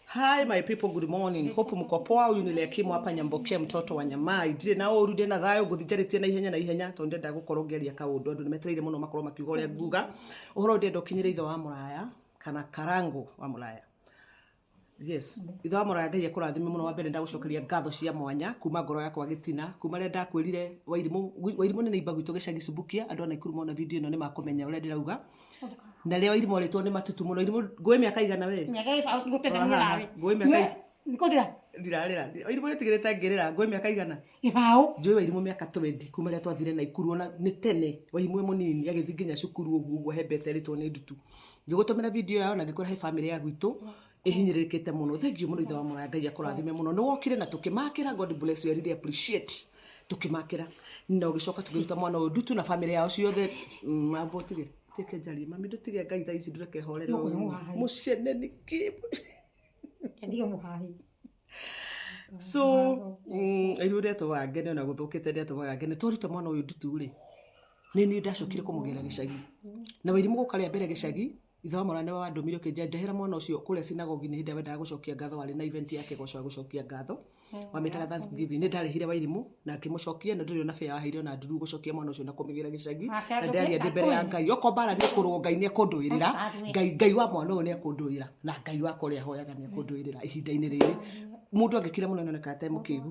Hi my people, good morning. Hope mko poa. Huyu ni Lekimu hapa Nyamboke, mtoto wa Nyamai. Ndire na oru ndire na thayo nguthinjarite na ihenya na ihenya tondu ndenda gukorwo ngeria kaundu andu nimetereire muno makorwo makiuga uria nguga uhoro ndenda ukinyire ithe wa muraya kana karangu wa muraya yes ithe wa muraya ngai akurathime muno wa mbere ndagucokeria ngatho cia mwanya kuma ngoro yakwa gitina kuma rä ndakwä rire wairimu nä nä imbagu itå gä cagi cumbukia andå a naikuru mona video ä no nä makumenya å rä a ndä rauga na rĩo irimũ rĩtwo nĩ matutu mũno irimũ ngũĩ mĩaka igana we mĩaka ĩba ngũtete Haha, mũrarĩ ngũĩ mĩaka ĩ- ngũtĩra ndirarĩra irimũ rĩtigĩrĩte ngĩrĩra ngũĩ mĩaka igana gĩbaũ njũĩ wairimu mĩaka twendi kuma rĩa twathire na ikuru ona nĩ tene waimwe mũnini agĩthiĩ nginya cukuru ũguo ũguo hembete rĩtwo nĩ ndutu ngĩgũtũmĩra video yao na ngĩkwĩra he bamĩrĩ ya gwitũ ihinyirikite muno thank you muno ithe wa mwana ngai akurathime muno ni wokire na tukimakira god bless you i really appreciate tukimakira na ugicoka tugiruta mwana uyu ndutu na family yao ciothe mm, mambo tige tike njari mami ndutige ngai thaa ici ndureke horere Nũkũ nĩ mũhahi. mucene ni ki Endiga muhahi. so mm, riu ndeto wange ni ona guthukite ndeto wange ni twaruta mwana uyu ndutu ri ni ni ndacokire kumugera gicagi na wairimu guka ria mbere gicagi Ithe wa mwana nĩwe wandũmire ũkĩnjĩra njahĩra mwana ũcio kũrĩa sinagogi-inĩ hĩndĩ ĩrĩa wendaga gũcokia ngatho warĩ na event ya kĩgoco ya gũcokia ngatho wamĩtaga Thanksgiving nĩ ndarĩhire wairimũ na akĩmũcokia na ndũrĩ ona bĩa waheire ona nduru gũcokia mwana ũcio na kũmĩgĩra gĩcagi Nake na ndĩraria agĩthiĩ ndĩ mbere ya akũhe. ngai okorwo mbara nĩ kũrũo ngai nĩ ekũndũĩrĩra Athiĩ. ngai ngai wa mwana ũyũ nĩ ekũndũĩra na ngai wakwa ũrĩa hoyaga nĩ ekũndũĩrĩra ihinda-inĩ rĩrĩ mũndũ angĩkira mũno nĩ onekaga atarĩ mũkĩgu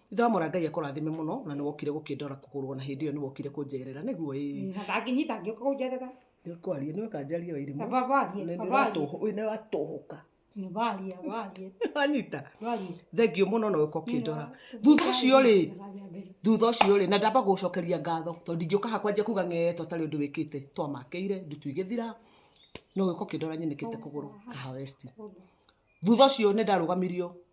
ithe wa mwana ngai akũrathime mũno na nĩ wokire gũkĩndora kũgũrũ na hĩndĩ ĩyo nĩ wokire kũnjerera nĩguo ĩ na ndangĩnyita angĩũka kũnjerera nĩ kwaria nĩ wekanjaria wairimũ na babarie nĩ babarie ũratũhũ- ũyũ nĩ ũratũhũka babarie babarie wanyita babarie thengio mũno na ũka ũkĩndora thutha ũcio rĩ thutha ũcio rĩ na ndamba gũcokeria ngatho tondũ ndingĩũka hakwa nje kuga ng'eetwo tarĩ ũndũ wĩkĩte twamakĩire ndutu igĩthira no gĩko kĩndora nyenekĩte kũgũrũ kaha westi thutha ũcio nĩ ndarũgamirio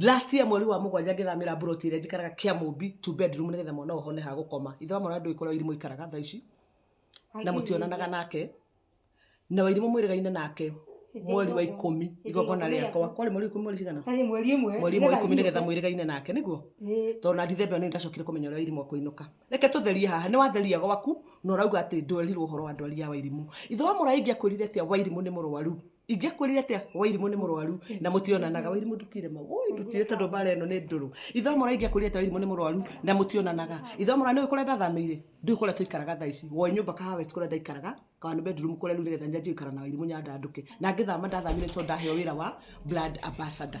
last year mweri wa mũgwanja ngĩthamĩra mburoti ĩrĩa njikaraga kĩa mũmbi two bedroom nĩgetha mwana ũhone ha gũkoma ithe wa mwana ndũĩ kũrĩa irimũ ikaraga thaa ici na mũtionanaga nake na wairimũ mwĩrĩgaine nake mweri wa ikũmi igongona rĩakwa kwarĩ mweri wa ikũmi mweri cigana Tarĩ mweri ĩmwe mweri wa ikũmi nĩgetha mwĩrĩgaine nake nĩguo Ĩĩ. tondũ na ndithembe nĩ ndacokire kũmenya ũrĩa wairimũ akũinũka reke tũtherie haha nĩ watheria gwaku na ũrauga atĩ ndwerirwo ũhoro wa ndwari ya wairimũ ithe wa mũraĩ ingĩakwĩrire atĩa wairimũ nĩ mũrwaru ingĩkwĩrire atĩa wairimũ nĩ mũrwaru na mũtionanaga wairimũ ndũkire mau ũĩ ndũtire tondũ mbara ĩno nĩ ndũrũ ithomora ingĩakwĩrire atĩa wairimũ nĩ mũrwaru na mũtionanaga ithomora nĩ ũĩ kũrĩa ndathamĩire ndũĩ kũrĩa tũikaraga thaa ici woĩ nyũmba kahawa west kũrĩa ndaikaraga kana nĩ bedroom kũrĩa rĩu nĩgetha nyanjie gũikara na wairimũ nyandandũke na ngĩthama ndathamire nĩ tondũ ndaheo wĩra wa blood ambassador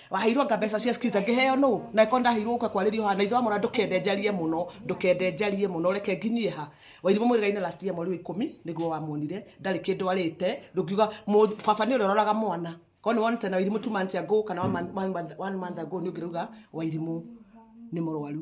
waheirwo nga mbeca cia skiza ngĩheo nũ na ko ndaheirwo ũka kwarĩrio haha na ithe wa mwana ndũkende njarie mũno ndũkende njarie mũno reke nginyie ha wairimũ mwĩrĩgainĩ last year mweri wa ikũmi nĩguo wamuonire ndarĩ kĩndũ arĩte ndũngiuga mũ- baba nĩ ũrĩa ũroraga mwana korwo nĩ wonete na wairimũ two months ago kana one month- one month- one month ago nĩ ũngĩrauga wairimũ nĩ mũrwaru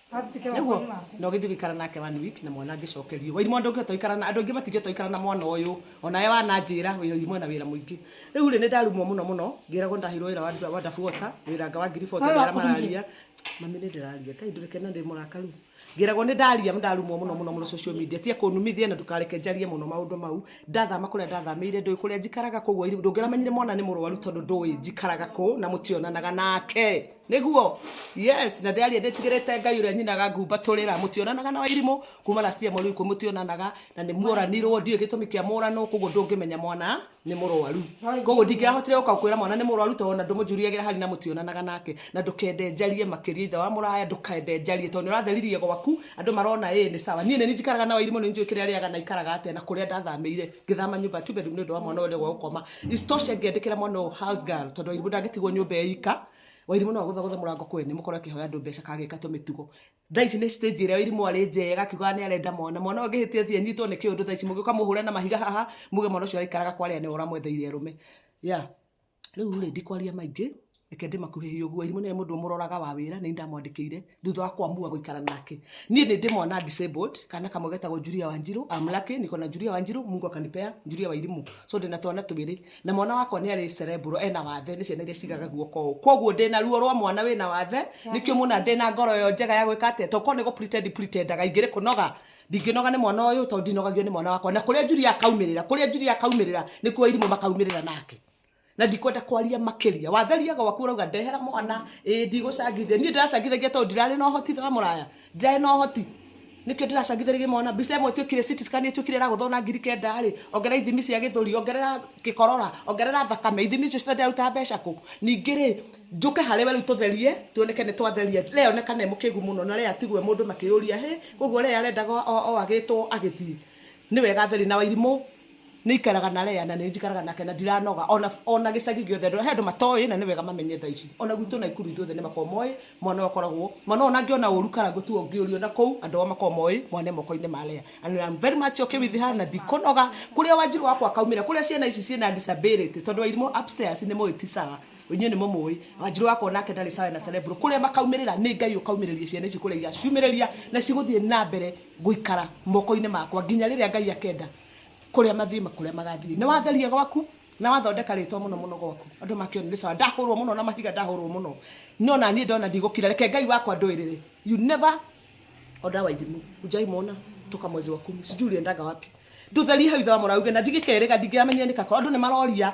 nĩguo na ũgĩthiĩ gũikara nake one week na mwana angĩcokerio wairimo ndũngĩhota gũikara na andũ aingĩ matingĩhota gũikara na mwana ũyũ onawe wananjĩra wairimo ena wĩra mũingĩ rĩu rĩ nĩ ndarumwo mũno mũno ngĩragwo ndahirwo wĩra wa wa ndabu wota wĩra anga wa ngiri bota Wala ndara wakururia. mararia mami nĩ ndĩraria ngai ndũreke na ndĩ mũrakaru ngĩragwo nĩ ndaria ndarumwo mũno mũno mũno social media tia kũnumithia na ndũkareke njarie mũno maũndũ mau ndathama kũrĩa ndathamĩire ndũĩ kũrĩa njikaraga koguo wairimo ndũngĩramenyire mwana nĩ mũrwaru tondũ ndũĩ njikaraga kũ na mũtionanaga nake niguo yes na ndĩaria ndĩtigĩrĩte ngai ũrĩa nyinaga ngumba tũrĩra mũtionanaga na wairimũ kuma last year mweri ikũ mũtionanaga na nĩ mũranirwo ndiũĩ gĩtũmi kĩa mũranwo koguo ndũngĩmenya mwana nĩ mũrwaru koguo ndingĩahotire gũka kwĩra mwana nĩ mũrwaru tondũ ona ndũmũnjuriagĩra hari na mũtionanaga nake na ndũkende njarie makĩria ithe wa mũraya ndũkende njarie tondũ nĩ ũratheririe gwaku andũ marona ĩ nĩ sawa niĩ nĩ njikaraga na wairimũ nĩ njũĩ kĩrĩa rĩaga na ikaraga atĩa na kũrĩa ndathamĩire ngĩthama nyũmba two bedroom nĩ ũndũ wa mwana ũrĩa gwa gũkoma istoshe ngĩandĩkĩra mwana ũyũ house girl tondũ wairimu ndangĩtigwo nyũmba ya ika wairimu no agũthagũtha mũrango kwĩ nĩ mũkorwo akĩhoya andũ mbeca kagĩka tũmĩtugo thaa ici nĩ stage ĩrĩa wairimu arĩ njega akiugaga nĩ arenda mwana mwana ũyũ angĩhĩtia thiĩ anyitwo nĩ kĩũndũ thaa ici mũgĩũka mũhũre na mahiga haha muge mwana ũcio araikaraga kwa arĩa nĩ ũramwetheire arũme yeah rĩu rĩ ndikwaria maingĩ reke ndĩmakuhĩhie ũguo irimũ nĩ mũndũ mũroraga wa wĩra nĩ ndamwandĩkĩire thutha wa kwamua gũikara nake niĩ nĩ ndĩmona disabled kana kamwe getagwo Julia Wanjiru I'm lucky niko na Julia Wanjiru Mungu akanipea Julia Wairimu so ndĩna twana twĩrĩ na mwana wakwa nĩ arĩ cerebral ena wathe nĩ ciana iria cigaga guoko ũũ koguo ndĩna ruo rwa mwana wĩna wathe nĩkĩo muna ndĩna ngoro yo njega ya gwĩka atĩa to korwo nĩ gũ pretend pretendaga ingĩrĩ kũnoga Ndingĩnoga nĩ mwana ũyũ tondũ ndinogagio nĩ mwana wakwa na kũrĩa Julia akaumĩrĩra kũrĩa Julia akaumĩrĩra nĩ kuo irimũ makaumĩrĩra nake na ndikwenda kwaria makĩria watheria gwaku urauga ndehera mwana ĩ ndigũcangithia niĩ ndiracangithagia tondũ ndirarĩ na ũhoti wa mũraya ndirarĩ na ũhoti nĩkĩo ndiracangithĩrĩria mwana mbica ĩmwe ĩtuĩkire city scan ĩtuĩkire ĩragũthwo na ngiri kenda rĩ ongerera ithimi cia gĩthũri ongerera gĩkorora ongerera thakame ithimi icio ciothe ndĩraruta mbeca kũ ningĩ rĩ Njũke harĩ we rĩu tũtherie, tuoneke nĩ twatheria. Lee onekana e mũkĩgu mũno, na Lee atigwo e mũndũ makĩyũria, Hĩ! Kwoguo Lee arendaga o o agĩtwo agĩthiĩ? Nĩ wega atheri na Wairimũ nĩ ikaraga na Lee na nĩ njikaraga nake na ndiranoga. O na o na gĩcagi gĩothe andũ he andũ matoĩ na nĩ wega mamenye thaa ici. O na gwitũ Naikuru ithuothe nĩ makoragwo moĩ mwana ũyũ akoragwo, mwana ũyũ o na angĩona ũru kana gũtuo ũngĩũrio na kũu, andũ ao makoragwo moĩ mwana e moko-inĩ ma Lee. And I am very much okay with her na ndikũnoga. Kũrĩa Wanjirũ wakwa akaumĩra, kũrĩa ciana ici ciĩ na disability, tondũ Wairimũ upstairs nĩ mũĩ ti sawa. inyuĩ nĩ mũmũĩ wanjirũ wakwa onake ndarĩ sawa na cerebro kũrĩa makaumirĩra nĩ ngai ũkaumĩrĩria ciana ici kũrĩa igaciumĩrĩria na cigũthiĩ na mbere gũikara moko-inĩ makwa nginya rĩrĩa ngai akenda kũrĩa mathiĩ kũrĩa magathiĩ nĩ watheria gwaku na wathondeka rĩtwa mũno mũno gwaku andũ makĩone nĩ sawa ndahũrwo mũno na mahiga ndahũrwo mũno no na niĩ ndona ndigũkira reke ngai wakwa ndũĩrĩre you never Oda Wairimu hujai muona toka mwezi wa kumi sijui uliendaga wapi ndũtherie hau ithe wa mũrauge na ndigĩkerĩga ndingĩramenyire nĩ kakora andũ nĩ maroria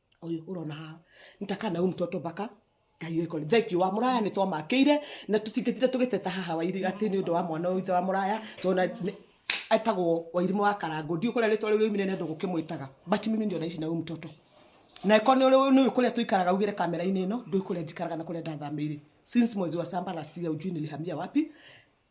ũyũ ũrona haha nĩ ta kana umu tũtũ baka ngai ũĩ kũrĩ thenki wa mũraya nĩ twamakĩire na tũtingĩtire tũgĩteta haha wairi atĩ nĩ ũndũ wa mwana ũyũ ithe wa mũraya tona etagwo wairimũ wa karango ndiũ kũrĩa rĩtwa rĩu rĩumire nĩ andũ gũkĩmwĩtaga but mimi ndio naishi na huyu mtoto na ĩkorwo nĩ ũrĩ- nĩ ũĩ kũrĩa tũikaraga ugĩre kamera-inĩ ĩno ndũĩ kũrĩa njikaraga na kũrĩa ndathamĩire since mwezi wa samba last year ujui nilihamia wapi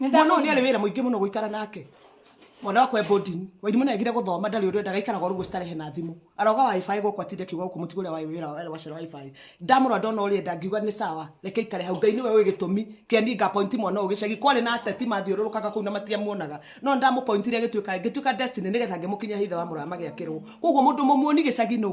mwana ũyũ nĩ arĩ wĩra mũingĩ mũno gũikara nake mwana wakwa embodini wairimũ nĩ agire gũthoma ndarĩ ũrĩa ndaga ikaraga ũguo citarehe na thimũ aroga wifi gũkũ atinde akiuga gũkũ mũtigo ũrĩa wĩ wĩra wa wacera wifi ndamũrora ndona ũrĩa enda ngiuga nĩ sawa reke ikare hau ngai nĩwe ũĩ gĩtũmi kĩa niĩ ngapointi mwana ũyũ gĩcagi kwarĩ na ateti mathiũrũrũkaga kũu na matiamuonaga no ndamũpointire gĩtuĩka ngĩtuĩka destiny nĩgetha ngĩmũkinyia he ithe wa mũrama gĩakĩrwo koguo mũndũ mũmuoni gĩcagi nũ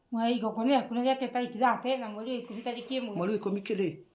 Mweri wa ikũmi tarĩki ithate na mweri wa ikũmi tarĩki ĩmwe. Mweri wa ikũmi kĩrĩ?